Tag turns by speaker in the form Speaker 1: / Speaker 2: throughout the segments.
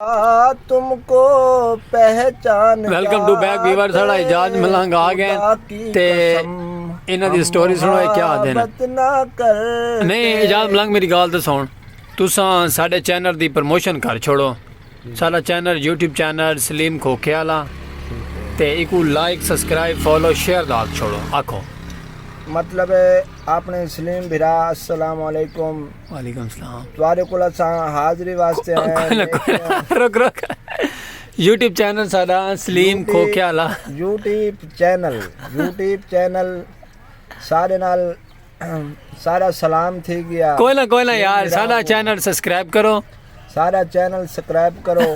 Speaker 1: تم کو پہچان کیا ویلکم ٹو بیک
Speaker 2: ویور ساڑا اجاز ملنگ آ گئے تے انہاں دی سٹوری سنو ہے کیا آدھے نا نہیں اجاز ملنگ میری گال تے سون تساں ساڑے چینل دی پرموشن کر چھوڑو ساڑا channel YouTube channel Saleem Khokhe آلا تے ایکو لائک سبسکرائب فالو شیئر دا چھوڑو آکھو مطلب
Speaker 1: اپنے سلیم بھرا السلام علیکم وعلیکم السلام
Speaker 2: تواڈے کول اساں
Speaker 1: حاضری واسطے آئے ہیں
Speaker 2: رک رک یوٹیوب چینل ساڈا سلیم کھوکھیا لا یوٹیوب
Speaker 1: چینل یوٹیوب چینل سارے نال سارا سلام تھی گیا کوئی نہ کوئی نہ یار
Speaker 2: سارا چینل سبسکرائب کرو ساڈا چینل
Speaker 1: سکرائب کرو۔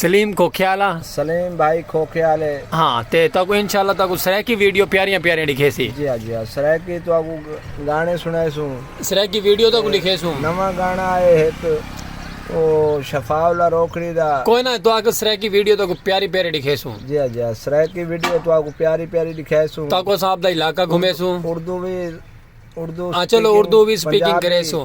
Speaker 1: سلیم
Speaker 2: کھوکھیالہ سلیم بھائی
Speaker 1: کھوکھیالے ہاں تے تاکو
Speaker 2: انشاءاللہ تاکو سرائیکی ویڈیو پیاریاں پیاریاں لکھے سی جی ہاں جی ہاں سرائیکی
Speaker 1: تو آکو گانے سنائے سوں سرائیکی ویڈیو تاکو
Speaker 2: لکھے سوں نواں گانا آئے
Speaker 1: ایک او شفاء اللہ روکڑی دا کوئی نہ تو آکو سرائیکی
Speaker 2: ویڈیو تاکو پیاری پیاری لکھے سوں جی ہاں جی ہاں سرائیکی
Speaker 1: ویڈیو تو آکو پیاری پیاری لکھے سوں تاکو صاحب دا علاقہ
Speaker 2: گھومے سوں اردو بھی اردو
Speaker 1: ہاں چلو اردو
Speaker 2: بھی سپیکنگ کرے سوں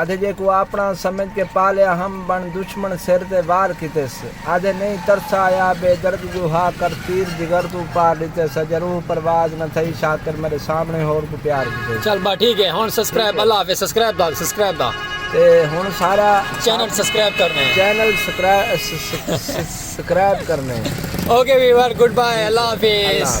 Speaker 1: آدھے جے کوں آپنڑا سمجھ کے پالیا ہم بن دشمن سر تے وار کیتس آدھے نہیں ترسا آیا بے درد جو ہا کر تیر جگر توں پار ڈتے سا جے روح پرواز نہ تھئی شاکر میڈے سامنے ہور کوں پیار کیتس۔ چل بھا ٹھیک ہے ہن
Speaker 2: سسکرائب اللہ حافظ سسکرائب دا سسکرائب دا۔ تے ہن
Speaker 1: سارا چینل سسکرائب
Speaker 2: کرنے۔ چینل سکرائب
Speaker 1: سسکرائب
Speaker 2: کرنے۔ اوکے ویور گڈ
Speaker 1: بائے
Speaker 2: اللہ حافظ۔